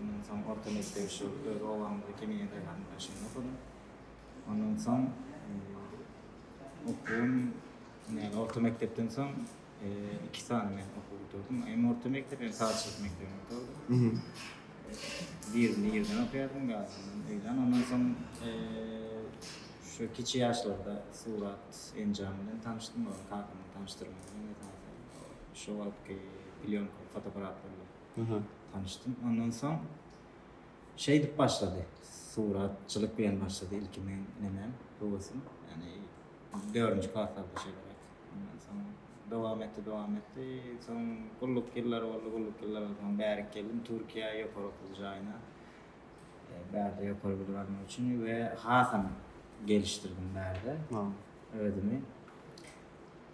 Ondan soň orta mekdebi şu öz obamyzda Kemine daýhanyň daşynda okadym. Ondan soň okuwym, ýagny orta mekdepden soň iki sany men okuw gutardım. Hem orta mekdep, hem sazçylyk mekdebini gutardym. Birini ýerden okaýardym, bärini öýden. Ondan soň şu kiçi ýaşlarda surat enjamy bilen tanyşdym, ol kakamyň tanyşdyrmagy bilen esasy. Şo wagtky plýonka fotograflar bilen tanyşdym. Ondan soň şeýdip başlady. Suratçylyk bilen başlady ilki meň nemem, höwesim. Ýagny dördünji klaslarda şeýleräk. Ondan soň dowam etdi, dowam etdi. Soň gulluk ýyllary boldy, gulluk ýyllarydan soň bärik geldim Türkiýä ýokary okuw jaýyna. Bärde ýokary bilim almak üçin we hasam gelişdirdim bärde özümi.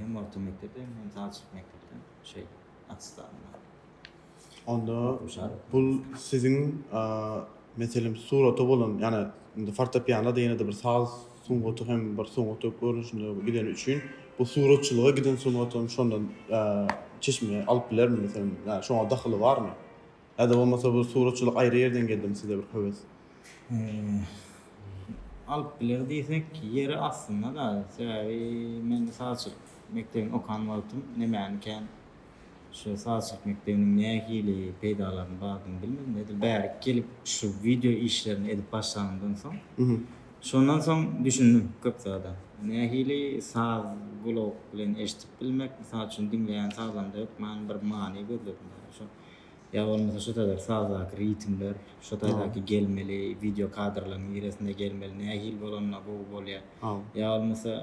Hem orta mekdep hem hem taçylyk mekdepden şey atstanda. Onda bu siziň meselem surata bolan ýani indi fortepiano diýen de bir saz sungaty hem bir sungat görnüşinde gideni üçin bu suratçylyga giden sungatyň şondan çeşme alyp bilermi meselem ýani şoňa dahyly barmy? Ada bolmasa bu suratçylyk aýry ýerden geldimi size bir höwes? Alyp biler diýsek ýeri aslynda-da. Sebäbi men sazçylyk mekdebini okan wagtym nemäni kän şu sazçylyk mekdebiniň nähili peýdalarynyň bardygyny bilmedim. Edil bärik gelip şu wideo işlerini edip başlanymdan soň, şondan soň düşündim köp zada. Nähili saz gulak bilen eşidip bilmek, mysal üçin diňleýän sazynda hökman bir many gözledim. Ýa-da şo Ýa bolmasa şu taýda sazdaky ritmler, şu taýdaky gelmeli wideo kadrlaryň niresinde gelmeli, nähili bolanda gowy bolýar. Ýa bolmasa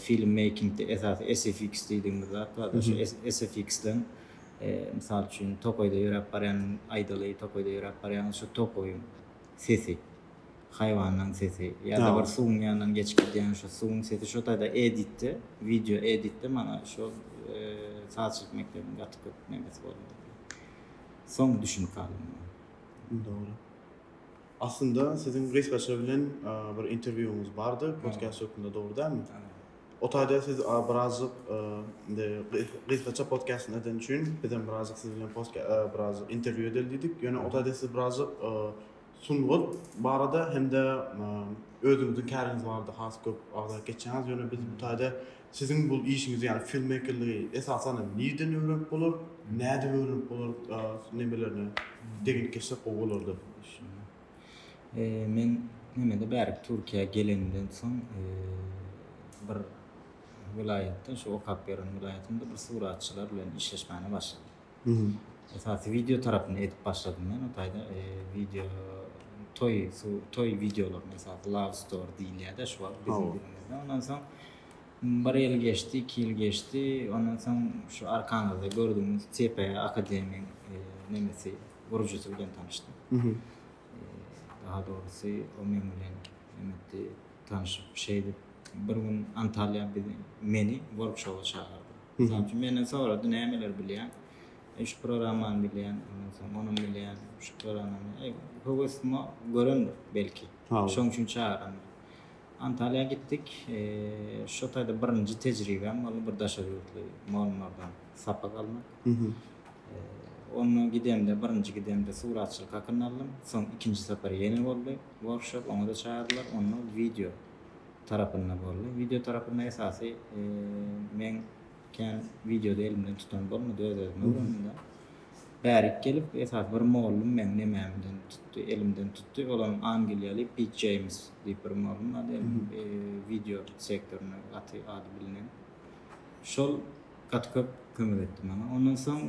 film meýkingde esasy SFX diýdigimiz zat barda şu SFX-den mysal üçin tokaýda ýöräp barýanyň aýdaly, tokaýda ýöräp barýanyň şu tokaýyň sesi. haýwanlaň sesi ýada bir suwuň ýanyndan geçip gidýän şo suwuň sesi şo taýda editde wideo editde maňa şol sazçylyk mekdebiniň gaty köp nemesi boldy soň düşünip galdym muňa dogry aslynda siziň gysgaça bilen bir interwýuňyz bardy podkast hökmünde dogry dälmi o taýda siz birazjyk indi gysgaça podkastyn eden üçin bizem birazjyk siz bilen podkast birazjyk interwýu edeli diýdik ýöne o taýda siz birazjyk sungat barada hem-de özüňiziň käriňiz barada has köp agzalyp geçýäňiz. Ýöne biz bu taýda siziň bu işiňizi, ýagny filmmekerligi esasan hem nirden öwrenip bolar, nädip öwrenip bolar, nemelerine degenip geçsek gowy bolardy. Men nemede bärik Türkiýä gelenimden soň bir welaýatda, şu okap ýören welaýatymda bir suratçylar bilen işleşmäne başladym. Esasy wideo tarapyny edip başladym men o taýda wideo toý toý wideolaryny esasy love story diýilýärdi şu wagt biziň dilimizde ondan soň bir ýyl geçdi iki ýyl geçdi ondan soň şu arkaňyzda gördüňiz CP akademiýaň nemesi gurujysy bilen tanyşdym daha dogrusy o men bilen netdi tanyşyp şeýdip bir gün Antalýa meni workshop-a çagyrdy. Mysal üçin, menden sorady, nämeleri bilýäň? Eý, şu programmany bilýän, ondan soň ony bilýän, şu programmany. Eý, höwesimi görendir, belki. Şoň üçin çagyrandyr. Antalýa gitdik. Şo taýda birinji tejribäm boldy, bir daşary ýurtly mugallymlardan sapak almak. Onda gidemde, birinji gidemde suratçylyk hakynda aldym. Soň ikinji sapar ýene boldy, workshop, oňa-da çagyrdylar. Onda wideo. tarapynda boldy. Wideo tarapynda esasy meň kän wideody elimden tutan bolmady öz özüme bolanda. Bärik gelip esas bir mollum meň nemämden tutdy, elimden tutdy. Olam Angliýaly Pit James diýip bir mollum bar diýip wideo sektorynda gaty ady bilinen. Şol gaty köp kömek etdi maňa. Ondan soň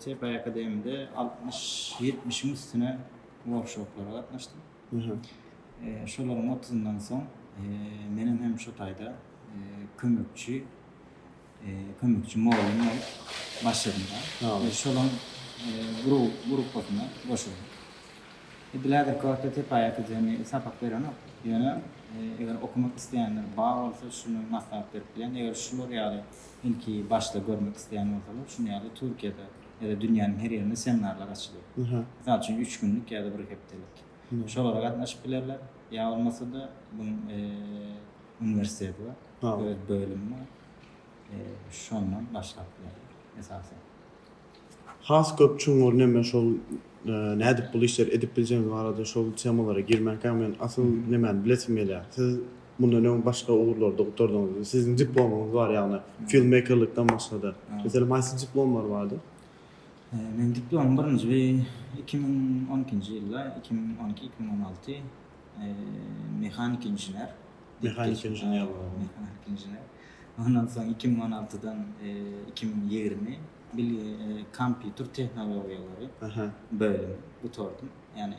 TPI Akademide 60-70-iň üstüne workshoplara gatnaşdym. Şolaryň otuzyndan soň menem hem şu taýda kömekçi kömekçi mugallym bolup başladym. Şolaryň gruppasyna goşuldym. Edil häzirki wagtda Tepaýaka jemi sapak berenok. Ýöne eger okamak isleýänler bar bolsa, şuny maslahat berip bilýän. Eger şular ýaly ilki başda görmek isleýän bolsalar, şuny ýaly Türkiýede ýa-da dünýäniň her ýerinde seminarlar açylýar. Mysal üçin, üç günlük ýa-da bir hepdelik. Şolara gatnaşyp bilerler. Ýa bolmasa-da, bu uniwersiteti bar, öz bölümi bar. Şondan başlap bilerler, esasan. Has köp çuňňur näme şol nädip bul işleri edip biljegiňiz barada şol temalara girmänkä men asyl nämäni bilesim gelýär. Siz Mundan öň başga ugurlarda gutardyňyzmy? Siziň diplomyňyz bar ýagny filmmekerlikden başgada. Meselem haýsy diplomlar bardy? Meniň diplomym birinji iki müň on ikinji ýylda, iki müň on iki, iki müň on alty, mehanik inžener. Mehanik inžener. Mehanik inžener. Ondan soň iki müň on altydan iki müň ýigrimi kompýuter tehnologiýalary bölümi gutardym. Ýagny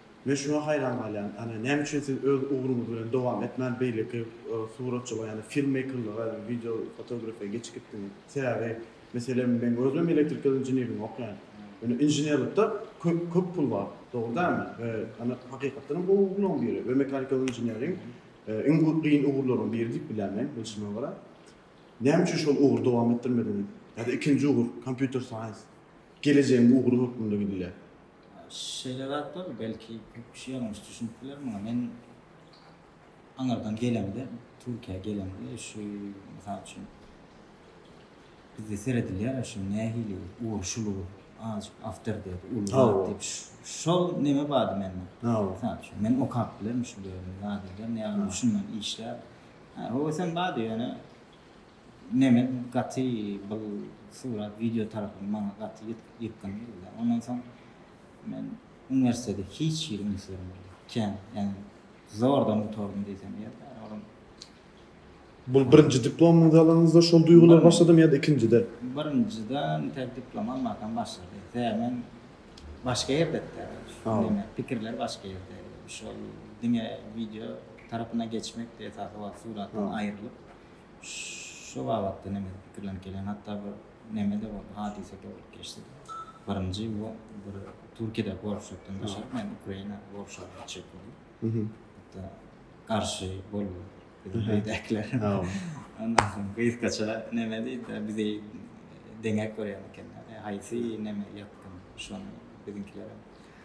Men şuňa haýran galýan, ýagny näme üçin siz öz ugruňyz bilen dowam etmän beýleki suratçylyga ýagny filmmeýkerlige ýagny wideo fotografiýa geçip gitdiňiz? Sebäbi meselem meň özüm hem elektrikal inženirligiň okaýan. Ýöne inženerlikde köp köp pul bar, dogry dälmi? We ýagny hakykatdan hem gowy ugurlaryň biri we mekanikal inženeriň iň gyn ugurlaryň biri diýip bilýän men bilşime görä. Näme üçin şol ugry dowam etdirmediňiz? Ýa-da ikinji ugur kompýuter saýens gelejegiň ugry hökmünde gidilýär. Şeýle zatlar belki köp kişi ýalňyş düşünip biler muňa. Men aňyrdan gelemde, Türkiýä gelemde şu mysal üçin bizde seredilýär şu nähili urşulygy azajyk awtor diýip uly diýip şol neme bardy mende. Mysal üçin men okap bilerin şu ýerden ýagny düşünmän işläp. Ha, o sen bardy ýöne Mehmet gaty bul surat wideo tarapyn maňa gaty ýykgyn geldi. Ondan soň men uniwersitede hiç hili üns bermedim. Kän, ýagny zordan gutardym diýsem ýerdir. Olam. Bul birinji diplomyňyzy alanyňyzda şol duýgular başladymy ýa-da ikinjide? Birinjide nitelik diplom almakam başlady. Sebäbi men başga ýerdedi. Neme, pikirler başga ýerde. Şol diňe wideo tarapyna geçmekdi esasy wagt suratdan aýrylyp. Şu babatda nemede pikirlenip gelýän, hatda bir nemede bolup, hadysa-da bolup geçdi. Birinji bu bir Türkiýedäki workshopdan daşary men Ukraina workshopyna gitjek boldum. Hatda garşy boldular biziň öýdäkiler. Ondan soň gysgaça neme diýdi, bizi deňäp görýän ekenler. Haýsy neme ýakyn, şony biziňkilerem.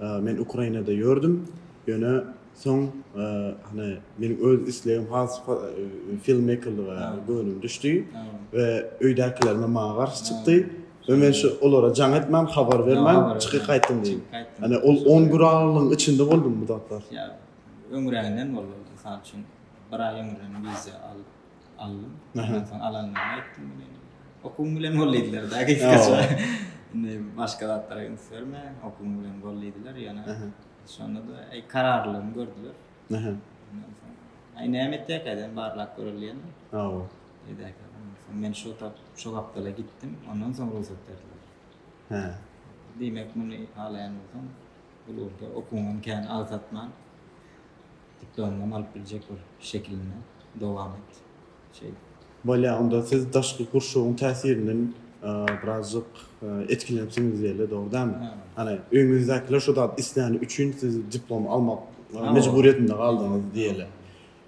Men Ukrainada ýördüm, ýöne soň hany meniň öz islegim has filmmekerlige göwnüm düşdi we öýdäkilerime maňa garşy çykdy we men şu olara jaň etmän, habar bermän çykyp gaýtdym diýip. Hany ol on gün aralygyň içinde boldy bu zatlar. Ýa öňräginden boldy, mysal üçin, bir aý öňünden wiza alyp. aldym. Ondan soň alanlaryma aýtdym muny indi. Okuwyň bilen bol diýdiler-de gysgaça. Indi başga zatlara üns berme, okuwyň bilen bol diýdiler. Ýöne şonda-da eý kararlylygymy gördüler. Ondan soň aý näme etjekkä dedim, barlap göreli diýendim. Hawa. Beýdäki men şo tap, şo gapdala gitdim, ondan soň rugsat berdiler. Hä. Diýmek muny halaýan bolsaň, bu ugurda okuwyňam kän agsatman, Diplomyňam alyp biljek bol şekilinde dowam et şeýdip. Bolýa onda siz daşky gurşawyň täsirinden birazjyk etkilenipsiňiz diýeli dogry dämi? Hany öýňüňizdäkiler şo zat isläni üçin siz diplomy almak mejburyýetinde galdyňyz diýeli.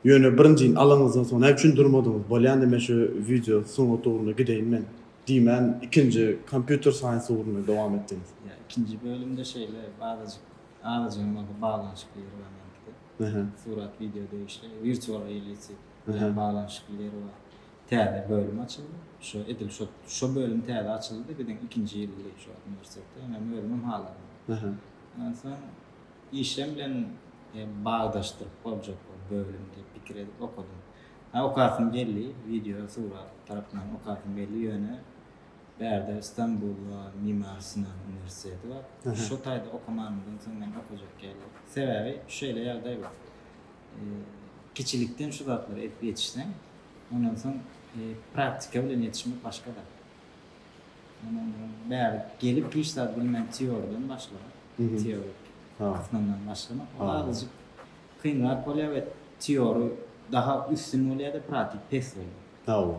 Ýöne birinjini alanyňyzdan soň näme üçin durmadyňyz? Bolýanda men şu wideo sungat ugruna gideýin men diýmän ikinji kompýuter saýens ugruna dowam etdiňiz. Ýa ikinji bölümde şeýle azajyk Agajyň maňa baglanyşykly ýeri bar meňkide. Surat wideo degişli. Wirtual reality bilen baglanyşykly ýeri bar. Täze bölüm açyldy. Şo edil şo şo bölüm täze açyldy-da biziň ikinji ýyl girip şu wagt uniwersitetde. Ýöne özümem halamok. Onsoň işem bilen bagdaşdyryp boljak bol bölüm diýip pikir edip okadym. Okasym geldi, wideo, surat tarapyndan okasym geldi, ýöne Bärde Stambulda Mimar Sinan uniwersiteti bar. Şo taýda okamanymdan soň men okajak ýaly. Sebäbi şeýle ýagdaý bar. Kiçilikden şu zatlary edip ýetişseň, ondan soň praktika bilen ýetişmek başga zat. Men onda bäri gelip hiç zat bilmän teoriýadan başlap, teorik asmandan başlamak ol azajyk kynrak bolýar we teorik daha üstün bolýar-da, praktik pes bolýar. Hawa.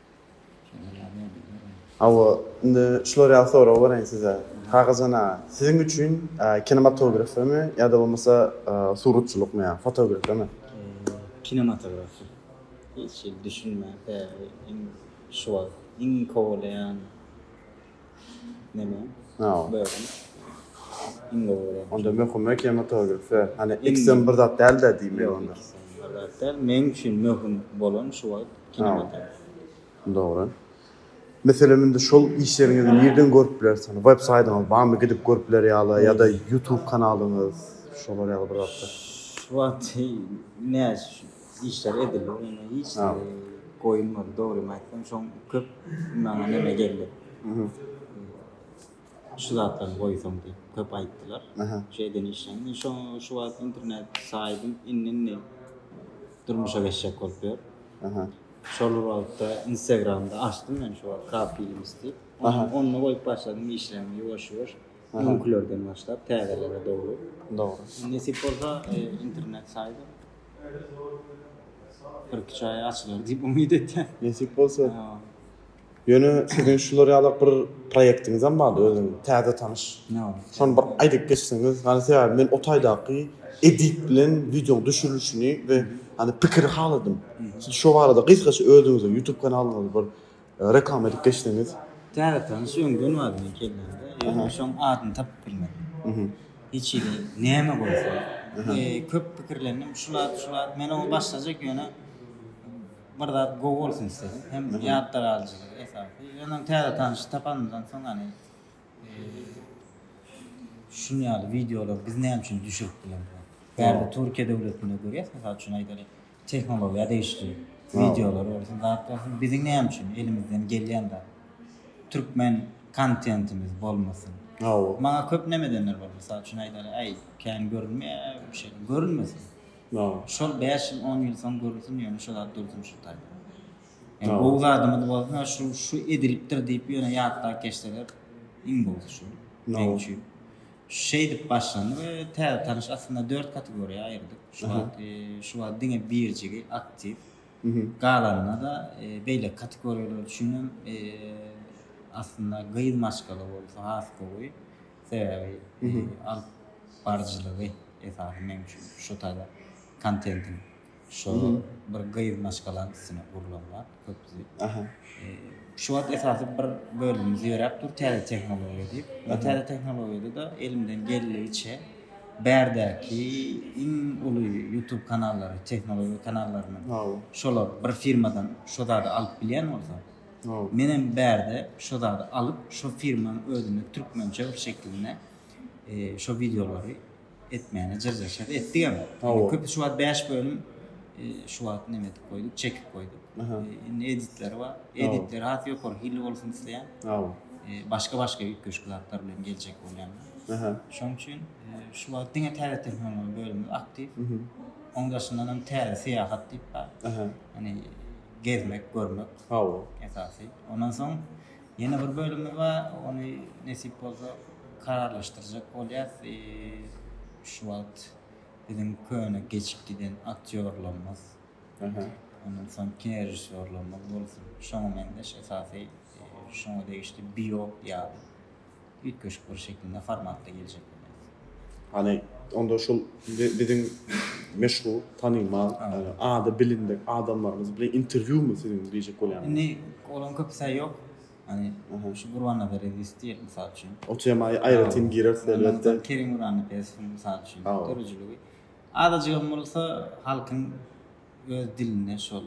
Hawa, indi şular ýaly sorag bereýin size. Kakajan aga, siziň üçin kinematografiýamy ýa-da bolmasa suratçylykmy ýa fotografiýamy? Kinematografiýa. Hiç hili düşünmän, iň şu wagt iň kowalaýan. Neme? Ha. Böwren. Iň gowy. Onda möhüm we kematografi. Fe. Hani iksem bir zat däl de diýmek onda. Däl, men üçin möhüm bolan şu wagt kinematografi. Dogry. Meselem indi şol işleriňizi nirden görüp bileris? Hani web saýdyňyz barmy gidip görüp biler ýaly ýa-da YouTube kanalyňyz şolar ýaly bir zatlar. Şu wagt näçe Işler edildi onda hiç zady goýulmady dogrymy aýtsam şoň köp maňa neme geldi. Şu zatlaryny goýsaň diýip köp aýtdylar. Şu eden işleň men şo şu wagt internet saýdym indi indi durmuşa geçjek bolup ýör. Şol wagtda instagramda açdym men şu wagt kap films diýip. Onda goýup başladym işlerimi ýuwaş ýuwaş öňkülerden başlap täzelere dogry. Dogry. Nesip bolsa internet saýda Birki çaýa açylar diýip umyt etýän. Nesip bolsa. Ýöne siziň şular ýalak bir proýektiňizem bardy özüň täze tanyş. Şony bir aýdyp geçseňiz. Hany sebäbi men o taýdaky edit bilen wideoň düşürilişini we hany pikiri haladym. Siz şo barada gysgaça özüňiziň youtube kanalyňyzy bir Reklama edip geçseňiz. Täze tanyş öňden bar men gelende. Ýöne şoň adyny tapyp bilmedim. Hiç hili näme goýsa. Köp pikirlendim. Şu zat, şu zat. Men oňa başlajak ýöne bir zat gowy bolsun isledim. Hem ýatda galyjylygy esasy. Ýöne täze tanyşy tapanymdan soň hany şuny ýaly wideolar biz näme üçin düşürip bilemok. Bärde Türkiýe döwletinde görýäs. Mysal üçin aýdalyk. Tehnologiýa degişli wideolar bolsun, zat bolsun, biziň näme üçin elimizden gelýän zat. Türkmen kontentimiz bolmasyn. Hawa. Maňa köp näme edenler bar. Mysal üçin aýdaly, äý, kän görünmeýär bu şeýle. Görünmesin. Hawa. Şol bäş ýyl, on ýyl soň görülsin, ýöne şu zat dursun şu taýda. Ýa gowy zadymyz bolsun, ýa şu şu edilipdir diýip ýöne ýatlap geçseler iň gowusy şu. Meň üçin. Şeýdip başlandy we täze tanyş aslynda dört kategoriýa aýyrdyk. Şu wagt şu wagt diňe birjigi aktiw. Galanynda-da beýleki kategoriýalar üçin hem aslynda gyz maşgala bolsa has gowy. Sebäbi alyp baryjylygy esasy meň üçin şu taýda kontentiň. Şo bir gyz maşgalaň üstüne gurlan zat köpüsi. Aha. Şu wagt esasy bir bölümimiz ýöräp dur täze tehnologiýa diýip. Bu täze tehnologiýada-da elimden geldigiçe bärdäki iň uly YouTube kanallary, tehnologiýa kanallarynyň şolar bir firmadan şo zady alyp bilýän bolsa, men hem bärde şo zady alyp, şo firmanyň özünde türkmençe bir şekilinde şo wideolary etmäne jyrjaşar etdigem hawa köp şu wagt 5 bölüm e, şu wagt näme edip goýduk çekip goýduk indi editleri bar editler has ýokary hilli bolsun isleýän hawa e, başga başga üýtgeşik zatlar bilen geljek bolýan şoň üçin e, şu wagt diňe täze tehnologiýa bölümi aktiw oň daşyndan hem täze syýahat diýip bar ýani gezmek görmek hawa esasy ondan soň Ýene bir bölümimiz bar, ony nesip bolsa kararlaşdyrjak bolýas. Şu wagt biziň köne geçip giden aktýorlarymyz, ondan soň kinorežissýorlarymyz bolsun, şoňa meňzeş esasy şoňa degişli biop ýaly. Üýtgeşik bir şekilde formatda geljek welin. Hany onda şul biziň meşhur, tanymal, ady bilindik adamlarymyz bilen interwýumy siziň diýjek bolýanym? Indi olaň köpüsä ýok. Hany şu Gurbannazar Ezis diýek mysal üçin. O temaýa aýratyn gireris elbetde. Kerim Gurannepesowuň mysal üçin döredijiligi. Azajygam bolsa halkyň öz dilinde şol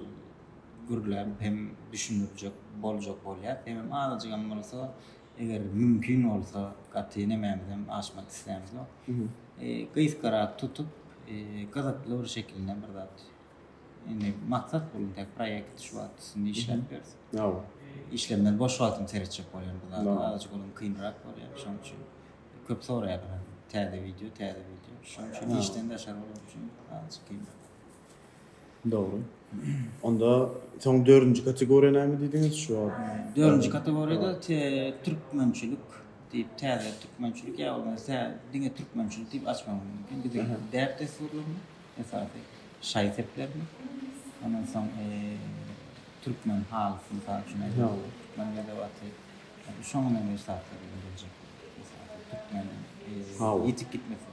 gürläp hem düşündirjek boljak bolýar. Hemem azajygam bolsa Eger mümkin bolsa, gaty nemämizem aşmak islämiz ýok. Gysgarak tutup, gyzykly bir şekilde bir zat. Indi maksat bul indi proýekt şu wagt üstünde işläp ýörüs. Hawa. Işlemden boş wagtym seretjek bolýan bu zada. Azajyk olam kynrak bolýar. Şonuň üçin köp soraýarlar. Täze wideo, täze wideo. Şonuň üçin işden daşary bolanok üçin azajyk kynrak. Dogry. Onda soň dördünji kategoriýa näme diýdiňiz şu wagt? Dördünji kategoriýada türkmençilik diýip täze türkmençilik ýa bolmasa tä diňe türkmençilik diýip açmak mümkin. Biziň däp-dessurlarymyz esasy şaý-seplerimiz. Ondan soň türkmen halysy mysal üçin aýdalyň. Türkmen edebiýaty. Şoňa meňzeş zatlar biljek. Türkmen ýitip gitmesin.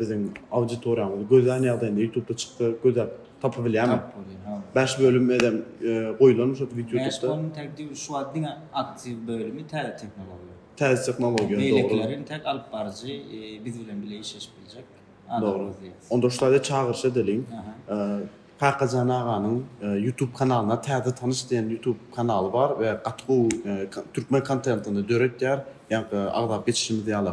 Biziň auditoriýamyzy gözlän ýagdaýynda ýutubda çyksa gözläp tapyp bilýärmi? Tapyp bolýar, hawa. Bäş bölüm edem goýulanmy şo ýutubda? Bäş bölüm täk dil, şu wagt diňe aktiw bölümi täze tehnologiýa. Täze tehnologiýa, dogry. Beýlekiler hem täk alyp baryjy biz bilen bile işleşip biljek adam gözleýäs. Onda şu taýda çagyryş edeliň. Kakajan aganyň ýutub kanalyna Täze tanyş diýen ýutub kanaly bar we gaty gowy türkmen kontentini döretýär. Ýaňky agzap geçişimiz ýaly.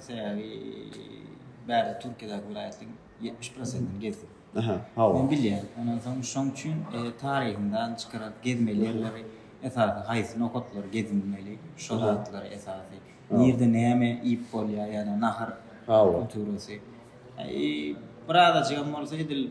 Sebäbi bärde Türkiýedäki welaýatlaryň ýetmiş prosentini gezdim. Aha, hawa. Men bilýän. Ondan soň şoň üçin taryhyndan çykaryp gezmeli ýerleri esasy haýsy nokatlary gezilmeli, şo zatlary esasy. Nirde näme iýip bolýar, ýa-da nahar kulturasy. Biraz-ajygam bolsa edil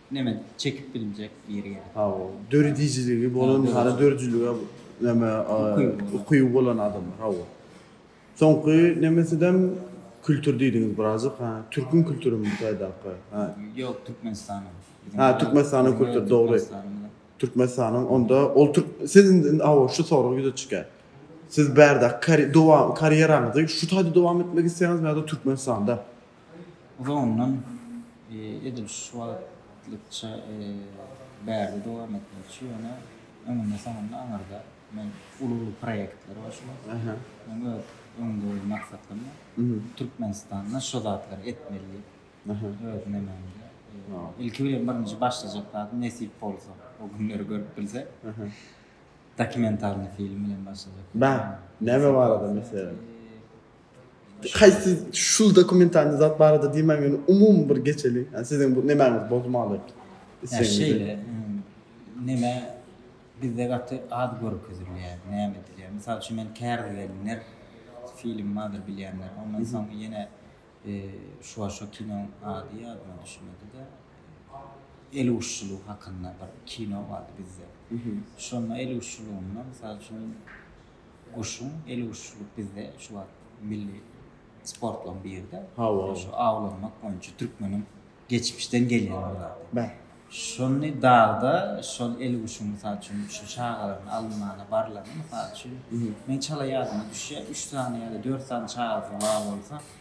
Neme çekip bilinjek ýeri gerek. Hawa, döredijiligi bolan, hara döredijiligi neme ukyby bolan adamlar, hawa. Soňky nemesidem kültür diýdiňiz birazajyk, ha, türküň kültürimi bu taýdaky, ha. Ýok, Türkmenistanyň. Ha, Türkmenistanyň kültüri, dogry. Türkmenistanyň, onda ol türk, siz indi, hawa, şu sorag ýüze çykýar. Siz bärde karýeraňyzy şu taýda dowam etmek isleýäňizmi ýa-da Türkmenistanda? Uzagyndan edil şu wagtlykça bärde dowam etmekçi, ýöne öňünde-soňunda aňyrda men uly-uly proýektleri başlap, meň öz öňümde goýan maksatlarym bar. Türkmenistanda şo zatlary etmeli diýip, öz nememde, ilki bilen birinji başlajak zadym nesip bolsa, o günleri görüp bilsek, dokumentalnyý film bilen başlajak. Näme barada meselem? Haýsy şul dokumentalny zat barada diýmäň ýöne umumy bir geçeliň ýa siziň bu nemäňiz bozmaly islegiňizi. Ýa şeýle neme bizde gaty az görkezilýär näme edilýär mysal üçin men Kärde gelinler film bardyr bilýänler ondan soň ýene şuwa şo kinoň ady ýadyma düşmedide el uşşulygy hakynda bir kino bardy bizde şonda el uşşulygynda mysal üçin Guşuň eliguşçulyk bizde şu wagt milli sportlaryň biri-de. Hawa. Şu awlanmak boýunça türkmeniň geçmişden gelýän bir zady. Bä. Şony dagda şol eliguşuň mysal üçin şu çagalaryň alynmana barlaryny mysal üçin, meň çala ýadyma düşýär, üç sany ýa-da dört sany çagasy bar bolsa,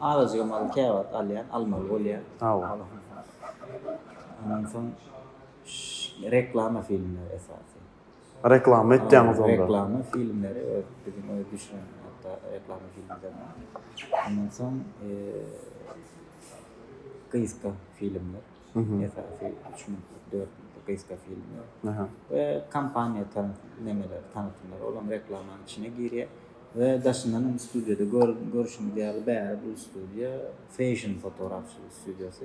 Azajyk amaly käwagt alýan, almaly bolýar. Hawa. Ondan soň reklama filmleri esasy. Reklama etýäňiz onda. Reklama filmleri biziň öz düşüren hatda reklama filmlerine. Ondan soň gysga filmler. Esasy 3 minutlyk, 4 minutlyk gysga filmler. Kompaniýa nemeler, tanatymlar olam reklamanyň içine girýär. We daşyndan hem studiýada görüşimiz ýaly bäri bu studiýa feşn fotorafçylyk studiýasy.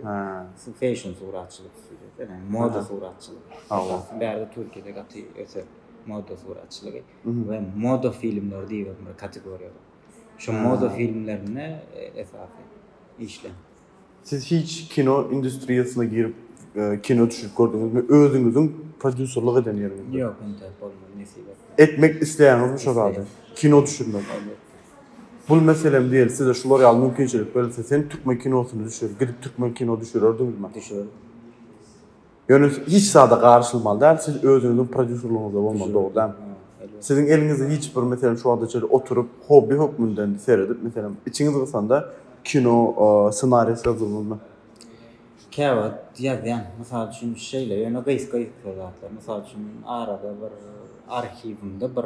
Şu feşn suratçylyk studiýasy, ene moda suratçylyk. Hawa. Bärde Türkiýede gaty ösen moda suratçylygy we moda filmleri diýip bir kategoriýa bar. Şu moda filmlerinde esasy işler. Siz hiç kino industriýasyna girip kino düşürip gördüňizmi? Özüňiziň prodýuserlik eden ýeriňizde? Ýok hende bolmady nesip etmedi. Etmek isleýäňizmi şo zady? Kino düşürmek? Bul meselem diýeli size şular ýaly mümkinçilik berilse sen türkmen kinosyny düşür gidip türkmen kino düşürerdiňizmi? Düşürerdim. Ýöne hiç zada garyşylmaly däl, siz özüňiziň prodýuserligiňizde bolmaly, dogry dälmi? Siziň eliňizde hiç bir, meselem, şu wagtda şeýle oturyp, hobbi hökmünden seredip, meselem, içiňiz gysanda, kino ssenariýasy ýazdyňyzmy? Käwagt ýazýan. Mysal üçin, şeýle, ýöne gysga-gysga zatlar. Mysal üçin, arada bir arhiwimde bir.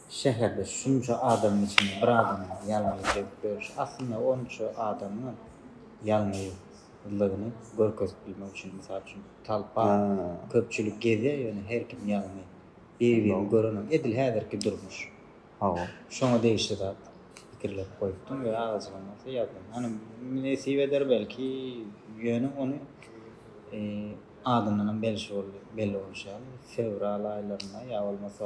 Şäherde şunça adamyň içinde bir adamyň ýalňyz döwüp ýörşi aslynda onça adamyň ýalňyzlygyny görkezip bilmek üçin. Mysal üçin, talpa, köpçülik gezýär, ýöne her kim ýalňy. Bir-birini görenok. Edil häzirki durmuş. Hawa. Şoňa degişli zat pikirlenip goýupdym we agajygym bolsa ýazdym. Hany, nesip eder belki, ýöne ony adyndanam belli bolşy ýaly, fewral aýlarynda ýa bolmasa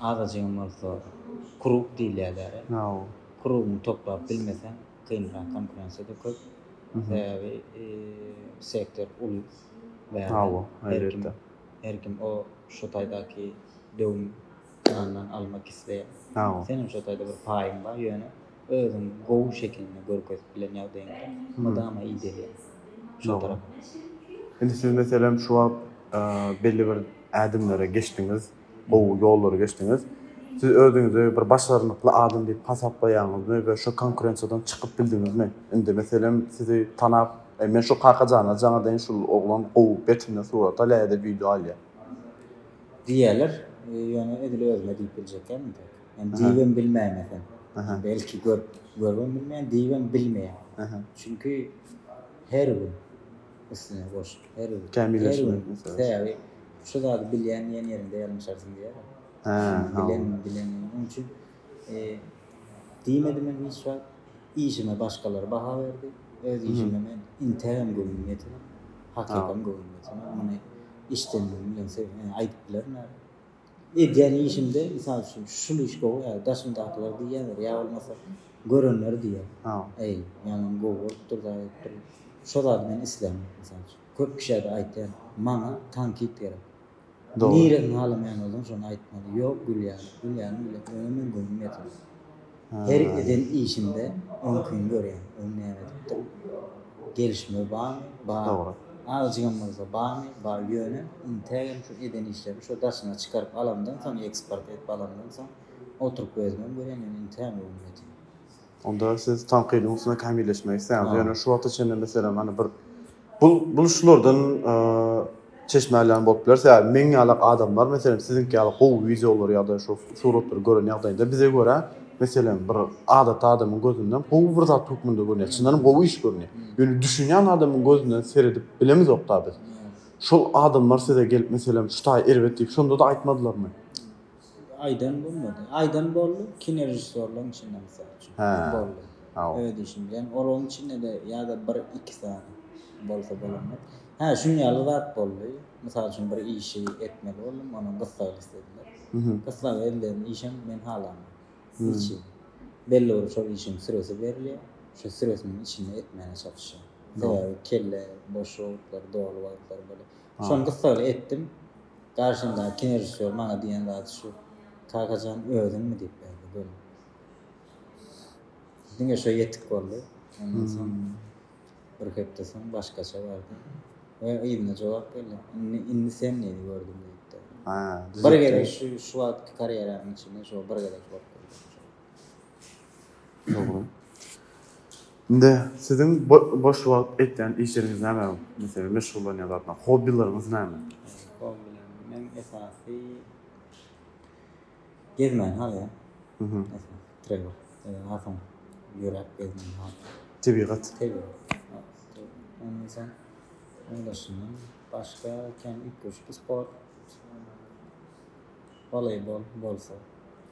Azajygam bolsa krug diýilýär däri. Krugyňy toplap bilmeseň kynrak, konkurensiýa-da köp. Sebäbi sektor uly bärde. Her kim o şo taýdaky döwüm nandan almak isleýär. Seniň şo taýda bir paýyň bar, ýöne özüň gowy şekilinde görkezip bilen ýagdaýyňda mydama idelýär şo tarap. Indi siz meselem şu wagt belli bir ädimlere geçdiňiz. gowy ýollary geçdiňiz. Siz özüňizi bir başarnykly adam diýip hasaplaýaňyzmy we şu konkurensiýadan çykyp bildiňizmi? Indi meselem sizi tanap, e, men şu Kakajana jaňa deýin şul oglan gowy geçimden surat alýar ýa-da wideo alýar. Diýerler, ýöne edil özüme diýip biljekkäm indi. Men diýibem bilmeýän eken. Belki görüp, görübem bilmeýän, diýibem bilmeýän. Çünki her gün. Üstüne goşup her gün. Kämilleşmek meselesi. Sebäbi şu zady bilýän diýen ýeriňde ýalňyşarsyň diýýärler. Hä, hawa. Bilen, bilen. Onuň üçin diýmedim men hiç wagt. Işime başgalar baha berdi. Öz işime men intägem göwnüm ýetene, hakykam göwnüm ýetene muny işdäniligim bilen aýdyp bilerin häzir. Edýän işimde, mysal üçin, şul iş gowy ýa-da daşymdakylar diýýändir, ýa bolmasa görenler diýýär. Äý, ýaňam gowy bolupdyr-da diýipdir. Şo zady men isläýän, mysal üçin. Köp kişä-de aýtýan, maňa tankit gerek. Niresiňi halamaýan bolsaň, şony aýtmaly. Ýok, gülýärin. Gülýärin, gülýärin. Öňem men göwnüm ýetmez. Her eden işinde oňkyny görýän. Ony näme edipdir? Gelişme barmy? Bar. Dogry. Azjygam bolsa barmy? Bar. Ýöne, intägem şu eden işlerini şo daşyna çykaryp alamdan soň, eksport edip alamdan soň, oturyp özümem görýän, ýöne intägem göwnüm ýetýän. Onda siz tankydyň üstünde kämilleşmek isleýäňiz. Ýöne şu wagta çenli, meselem, hany bir Bu bul şulardan çeşme alýan bolup biler. Sebäbi meň ýalak adamlar, meselem, siziňki ýaly gowy wideolary ýa-da şu suratlary gören ýagdaýynda bize görä, meselem, bir adaty adamyň gözünden gowy bir zat hökmünde görünýär. Çyndanam gowy iş görünýär. Ýöne düşünýän adamyň gözünden seredip bilemizok-da biz. Şol adamlar size gelip, meselem, şu taý erbet diýip, şonda-da aýtmadylarmy? Aýdan bolmady. Aýdan boldy, kinorežissýorlaryň içinde mysal üçin. Hä. Boldy. Haw. Öz işim bilen. Olaryň içinde-de ýa-da bir, iki sany bolsa bolandyr. Hä, şunuň ýaly zat boldy. Mysal üçin, bir işi etmeli boldum, onuň gyssagyny islediler. Gyssagy edilen işem men halamok. Niçin? Belli bir şol işiň süresi berilýär. Şo süresiniň içinde etmäne çalyşýar. Sebäbi kelle boş wagtlary, doly wagtlary bolup. Şony gyssagly etdim. Garşymdaky kinorežissýor maňa diýen zady şu, Kaka jan, özüňmi? diýip ýazdy göni. Diňe şo ýetik boldy. Ondan soň bir hepde soň başgaça bardy. We yzyna jogap geldi. Indi, indi sen diýdi, gördüm diýipdi. Ha, düzetdim. Bir gezek şu, şu wagtky karýeramyň içinde şo bir gezek bolup durdy. Dogry. Indi siziň boş wagt etýän işleriňiz näme? Meselem meşgullanýan zatlaryňyz, hobbilaryňyz näme? Hobbilerim meň esasy gezmän galýar. Tebigat. Başga kän üýtgeşik sport. Woleýbol bolsa.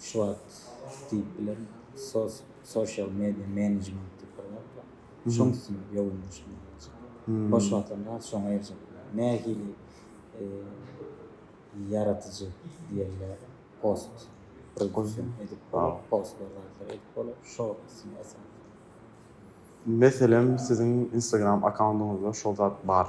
Şu wagt diýip bilerin, sos, social media management diýip bir zat bar. Şoň üstünde ýogunlaşmak bolsa. Boş wagtynda şoňa eýerjek bolýar. Nähili ýaradyjy diýerler, post produksiýa edip bolar, postlar zatlar edip bolar, şo üstüne esaslanýar. Meselem, siziň Instagram akkaundyňyzda şol zat bar.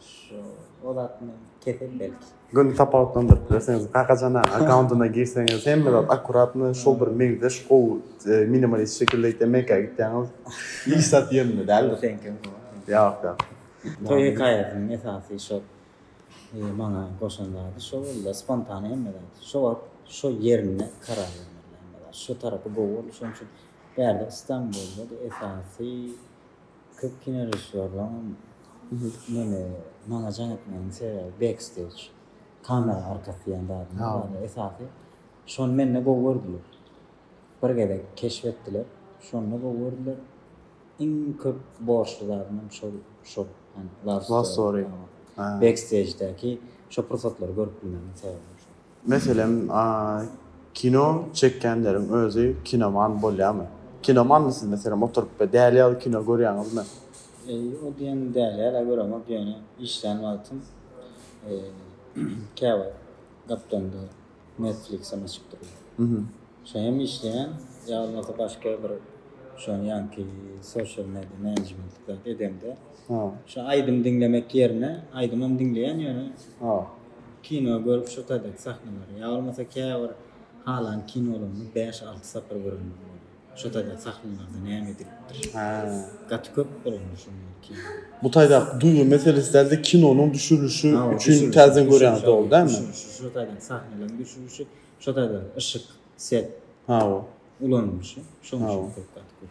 Şu o zat men kesel belki. Göni tapawutlandyryp bilersiňiz. Kakajan-a akkauntyna girseňiz hemme zat akkuratno şol bir meňzeş gowy minimalist şekilde gitýär. Mekgä gitýäňiz. Hiç zat ýerinde däldir. Seňkem gowy. Ýok ýok. Toý hekaýasynyň esasy şol maňa goşan zady şo boldy-da spontane hemme zat. Şo wagt şo ýerinde karar bermeli hemme zat. Şu tarapy gowy boldy şonuň üçin bärde Stambulda-da esasy Köp kinorežissýorlaň meni maňa jaň etmeginiň sebäbi backstage, kamera arkasy diýen zadyň bar. Esasy şony mende gowy gördüler. Bir gezek keşp etdiler. Şonda gowy gördüler. Iň köp borçly zadym hem şol, şol. Love story. Backstage'däki şo pursatlary görüp bilmegiň sebäbi hem şo. Meselem, kino çekýänleriň özi kinoman bolýarmy? Kinomanmy siz meselem oturyp bir däli ýaly kino görýäňizmi? Eý, o diýen däli ýaly-a göremok, ýöne işlän wagtym käwagt gaplaňda Netflix-em açyp durýan. Şo hem işleýän, ýa bolmasa başga bir şoň ýaňky social media management zat edemde, şo aýdym diňlemek ýerine aýdymam diňleýän ýöne. Kino görüp şu taýdaky sahnalary ýa bolmasa käbir halan kinolaryny bäş alty sapar görenler bolýar. Şu taýdaky sahnalarda näme edilipdir. Gaty köp bolanda şonuň ýaly kino. Bu taýdaky duýgy meselesi dälde kinonyň düşürilişi üçin täzeden görýäňiz dogry dälmi? Düşürişi şu taýdaky sahnalaryň düşürişi şu taýdaky yşyk, set. Hawa. Ulanylyşy şonuň üçin köp gaty köp.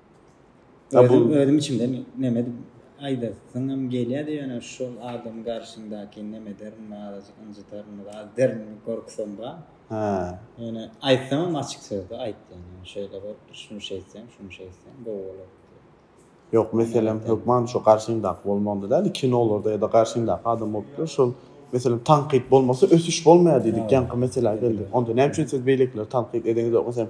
Ha bu özüm içimden neme dip aýdasyňam gelýärdi ýöne şol adam garşyňdaky neme derin azajyk ynjydaryn az derin gorkusam bar. Ha. Ýöne aýtsamam açyk sözde aýt ýöne şeýle bolupdyr şuny şeýtseň şuny şeýtseň gowy bolar. Ýok meselem hökman şo garşyňdaky bolmagynda däl kinolarda ýa-da garşyňdaky adam bolupdyr şol meselem tankyt bolmasa ösüş bolmaýar diýdik ýaňky meselä geldik onda näme üçin siz beýlekileri tankyt edeňizok meselem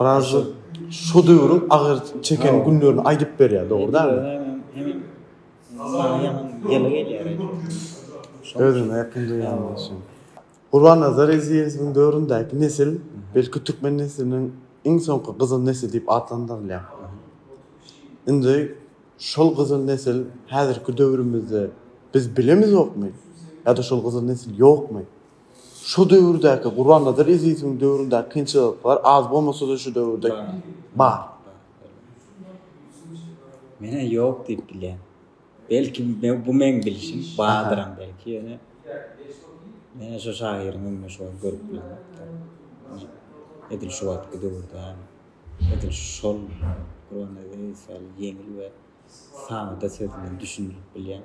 Brazi şu döwrüň agyr çeken günlerini aýdyp berýär, dogry dälmi? Özüne ýakyn duýýan bolsun. Gurbannazar Ezizowyň döwründäki nesil, belki türkmen nesliniň iň soňky gyzyl nesli diýip atlandyrylýar. Indi şol gyzyl nesil häzirki döwrümizde biz bilemizokmy? Ýa-da şol gyzyl nesil ýokmy? Şu döwürdäki Gurbannazaryň Ezizowyň döwründäki kynçylyklar az bolmasa-da şu döwürde bar. Menä ýok diýip bilýän. Belki bu meň bilşim bardyram belki ýöne menä şu şahyryň öňüne şu wagt görüp bilemokdym. Edil şu wagtky döwürde hem edil şol Gurbannazaryň Ezizowy ýaly ýeňil we sada söz bilen düşündirip bilýän.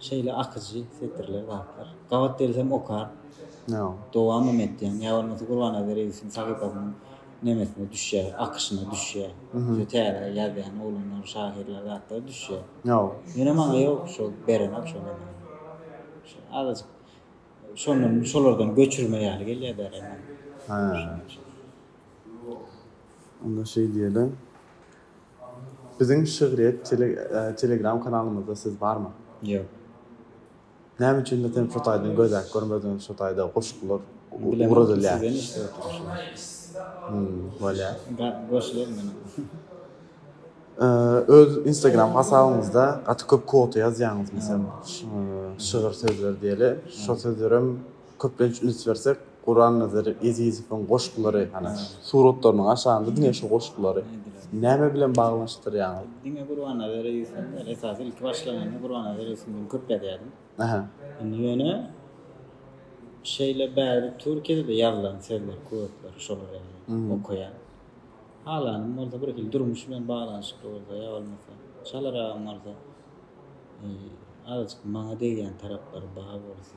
Şeýle akyjy setirler zatlar. Gabat gelsem okar. Dowamam etýän. Ýa bolmasa Gurbanabi Reýisowyň sahypasynyň nemesine düşýär, akyşyna düşýär. Şu täze ýazýan oglanlar, şahyrlar zatlar düşýär. Ýöne maňa ýok şol berenak şol emeli. Şol azajyk şondan şolardan göçürme ýaly gelýär berenak. Onda şeý diýeli. Biziň şygryýet telegram kanalymyzda siz barmy? Ýok. Näme üçindir sen fotaýdan gözläp görmediň şu taýda goşgular ugradylýar. Bilemen sizden eşidip oturyşymy. Bolýar. Goşular meniň. Öz instagram hasabyňyzda gaty köp quota ýazýaňyz meselem şygyr sözleri diýeli şo sözlerem Köplenç üns bersek, Gurannazar Ezizowyň goşgulary, hany, suratlarynyň aşagynda diňe şu goşgulary näme bilen baglanyşdyrýaňyz? Diňe Gurbannazar Ezizow däl, esasy ilki başlaganda Gurbannazar Ezizow bilen köp ýazýardym. Ähä. Indi ýöne şeýle bärde Türkiýede-de ýazylan sözler köpler, şolary ýaly okaýan. Halanym bolsa birhili durmuş bilen baglanyşykly bolsa ýa bolmasa Çalar agam bolsa azajyk maňa degýän taraplary bar bolsa.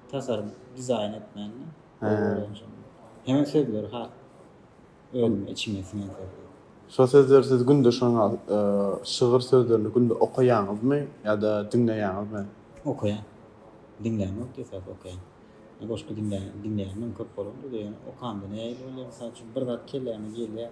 Tasarym, dizaýn etmände. Hemen sözleri has özüme içime siňen sözler. Şo sözleri siz günde şoň şygyr sözlerini günde okaýaňyzmy ýa-da diňleýäňizmi? Okaýan. Diňlän ýok esasy okaýan. Goşgy diňlän diňleýänim köp bolandyr ýöne okanda nähili bolýar mysal üçin bir zat kelläme gelýär.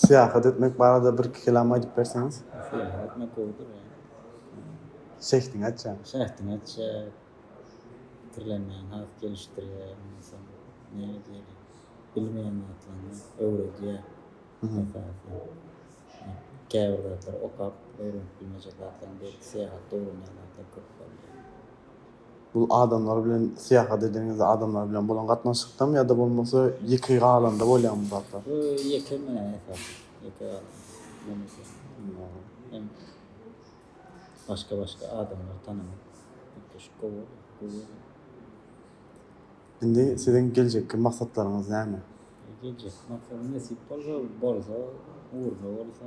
Syýahat etmek barada bir-iki kelam aýdyp berseňiz? Syýahat etmek gowudyr ýa. Şähdiňi açýar. Şähdiňi açýar. Pikirlenmäňi has gelişdirýär. Ondan soň näme diýeli? Bilmeýän zatlaryňy öwredýär. Käbir zatlary okap öwrenip bilmejek zatlaryň beýleki syýahat döwründe köp bolýar. Bu adamlar bilen syýahat edeniňizde adamlar bilen bolan gatnaşykdamy ýa-da bolmasa ýeke galanda bolýamy bu zatlar? Ýeke men esasy ýeke galan. Ýöne hem başga başga adamlar tanamak gepleşik gowy bolýar. Indi siziň geljekki maksatlaryňyz näme? Geljekki maksat nesip bolsa bolsa ugruna bolsa.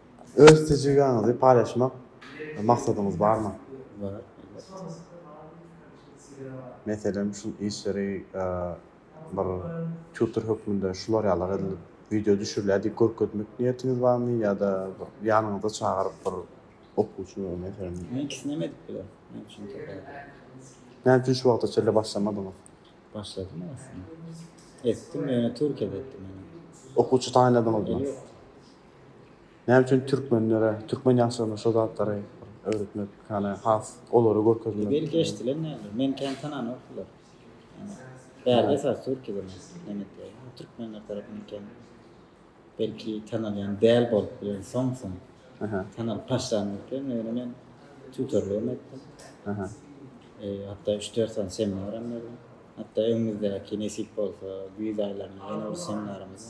Öz tejribaňyzy paýlaşmak maksadyňyz barmy? Bar elbetde. Meselem şu işleri bir tutor hökmünde şular ýaly edilip wideo düşürilýär diýip görkezmek niýetiňiz barmy ýa-da ýanyňyza çagyryp bir okuwçy meselem. Men ikisinem edip bilerin. Näme üçin tapawutly? Näme üçin şu wagta çenli başlamadyňyz? Başladym aslynda. Etdim ýöne türkiýede etdim. Okuwçy taýynladyňyzmy? Ýok. Näme üçin türkmenlere, türkmen ýaşlaryna şo zatlary öwretmek, ýagny has olary görkezmek. Belki eşdilen däldir. Meni kän tananokdylar. Ýagny bärde esasy türkide men islenekleri. Türkmenler tarapyndan kän belki tanalýan däl bolup bilen soň soň tanalyp başlandy eken. Ýöne men tutorlygym etdim. Hatda üç dört sany seminaram berdim. Hatda öňümizdäki nesip bolsa güýz aýlarynda ýene bir seminarymyz.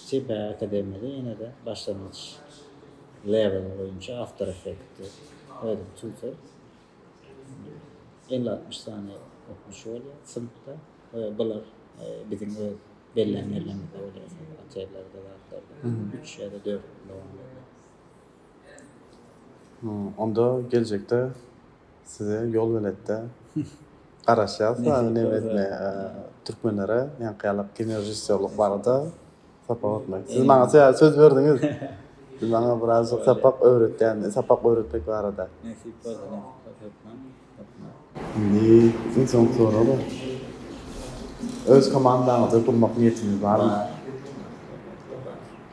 Çeper akademiýada ýene-de başlangyç level boýunça After Effects-i ödüp çüwsek, elli-altmyş sany okuwçy bolýar synpda we bular biziň öz bellän ýerlerimizde bolýar, şol otellerde zatlarda, üç ýa-da dört ýyl dowam edýär. Onda geljekde. Size ýol beletde garaşýas dagyn neme etmeye türkmenlere ýaňkyýalak kinorežissýorlyk barada sapak öwretmek. Siz maňa söz berdiňiz. Siz maňa biraz sapak öwretýän, sapak öwretmek barada. Nesip bolsa hökman. Indi iň soňky sorag. Öz komandaňyzy gurmak niýetiňiz barmy?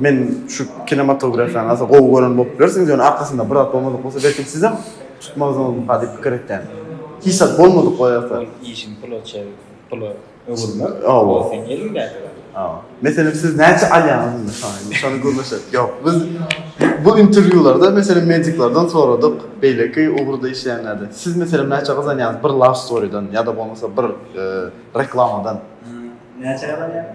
Men şu kinematografiýany asa gowy gören bolup bilersiňiz, ýöne arkasynda bir zat bolmadyk bolsa, belki sizem tutmazdyňyzmyka diýip pikir etýän. Hiç zat bolmadyk bolýarsa. Ol işiň pula çevirip, pula öwürmek, ol seň eliňdäki zat. Hawa. Meselem siz näçe alýaňyz indi şony? Şony gürleşeris. Ýok, biz bu interwýularda meselem mediklerden soradyk, beýleki ugurda işleýänlerden. Siz meselem näçe gazanýaňyz bir love story-den ýa-da bolmasa bir reklamadan? Näçe gazanýaňyz?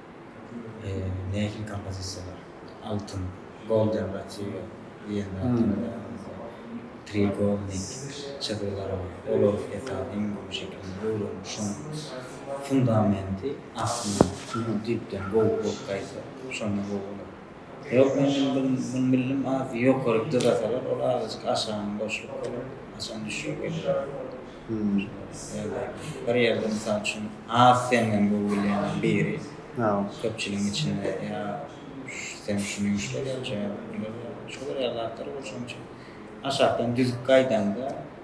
nähili kompozisiýalar, altyn, golden retriever diýen zat ýaňylaýaňyzda treýugelnik çyzgylar bar, olar esasy iň gowy şekilini öwrenip, şonuň fundamenti aslynda düýpden gowy bolup gaýtsa, şonda gowy bolar. Ýok men bildim men bildim azy ýokary dyzasalar ol azajyk aşagyna boşluk bolar haçan düşjek bilmeris. Ýa-da bir ýerde mysal üçin az senden gowy bilýän biri köpçüligiň içinde ýa sen şuny ýuşlar ýa-da şuny ýuşlar ýa-da şolar ýaly zatlar bolşuň üçin aşakdan düzüp gaýdaňda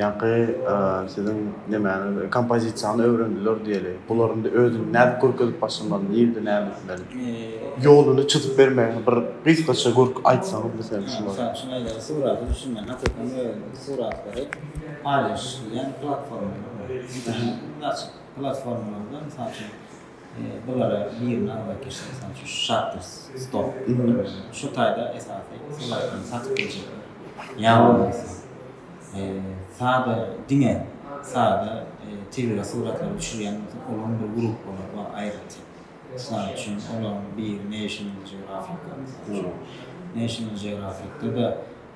Ýaňky siziň nemäňiz kompozisiýany öwrendiler diýeli. Bular indi özüni nädip görkezip başlamaly, nirede näme etmeli? Ýoluny çyzyp bermegini bir gysgaça görk aýtsaňyz bize şulary. Mysal üçin eger suraty düşünmän hakykatdan we suratlary paýlaşyş diýen platformalar bar. Internet açyk platformalarda mysal üçin Bulara birini almak gerek, mysal üçin şu Shutter Stop diýilýän. Şu taýda esasy sylagyrlary satyp biljekler. Ýa bolmasa, sada diňe sada tebigy suratlary düşürýän bolsa, olaryň bir gruppalary bar aýratyn. Mysal üçin, olaryň biri National Geographic-a gowudyr. National Geographic-de-de.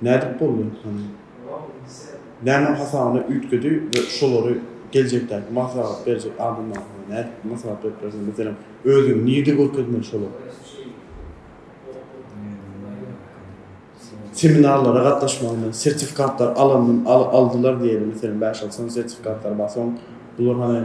Nädip boldy? Hany, nämäň hasabyna üýtgedi we şolary geljekdäki maslahat berjek adamlara hany nädip maslahat berip bilersiň? Meselem, özüňi nirde görkezmeli şolar? Seminarlara gatnaşmagyny, sertifikatlar alanyny aldylar diýeli, meselem, bäş-alty sany sertifikatlary bar, soň bular hany,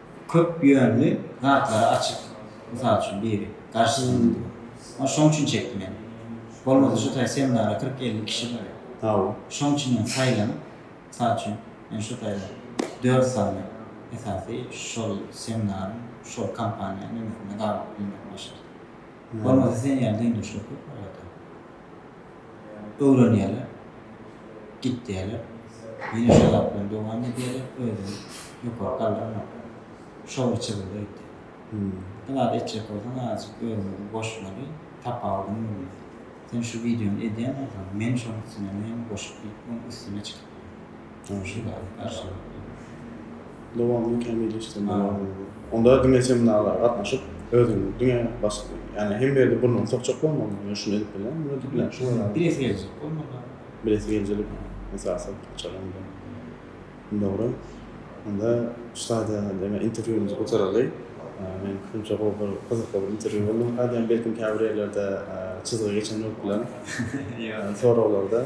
köp ýönli zatlary açyk mysal üçin biri garşysyny ony şoň üçin çekdi men bolmasa şu taý seminara kyrk elli kişi bary tauu şoň üçin men saýlanyp mysal üçin men şu taýda dört sany esasy şol seminaryň şol kompaniýanyň öňüsinde galyp bilmek başardy. Bolmasa sen ýaly deňdeşler köp bar zaten. Öwrenýärler. Gitýärler. Ýene şo zat bilen dowam edýärler. Özüni ýokary galdyrmak. Şowly çyzgyda gitýär. Bir zat etjek bolsaň azajyk özüňi goşmaly, tapawudyňy bilmeli. Sen şu wideony edýän bolsaň, men şonuň üstüne näme goşup diýip oň üstüne çyk. Dowamyny kämilleşdirmek arzuwy. Onda diňe seminarlara gatnaşyp, özüňi diňe başga, ýagny hemme ýerde burnuňy sokjak bolmaly. Men şuny edip bilýän, muny edip bilýän, şuny edip bilýän. Bilesi geljek bolmaly. Bilesi geljelik esasy açar onda. Dogry. Onda şu taýda diňe interwýumyzy gutaraly. Men pikrimçe gowy bir, gyzykly bir interwýu boldy ynha diýýän. Belki käbir ýerlerde çyzgy geçen bolup biler. Ýok. Soraglarda.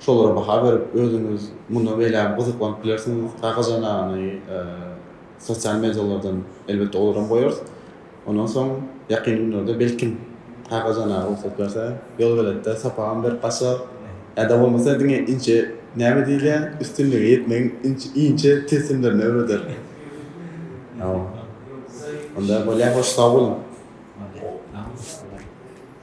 Şolara baha berip, özüňiz munda beýlägem gyzyklanyp bilersiňiz. Kakajanany sosial medialardan elbetde olaram goýarys. Ondan soň ýakyn günlerde belkim Kakajana rugsat berse, ýolbeletde sapagam berip gaçar. Ýa-da bolmasa diňe inçe näme diýilýär, üstünlige ýetmegiň inçe tilsimlerini öwreder. Onda bolýa hoş sag boluň.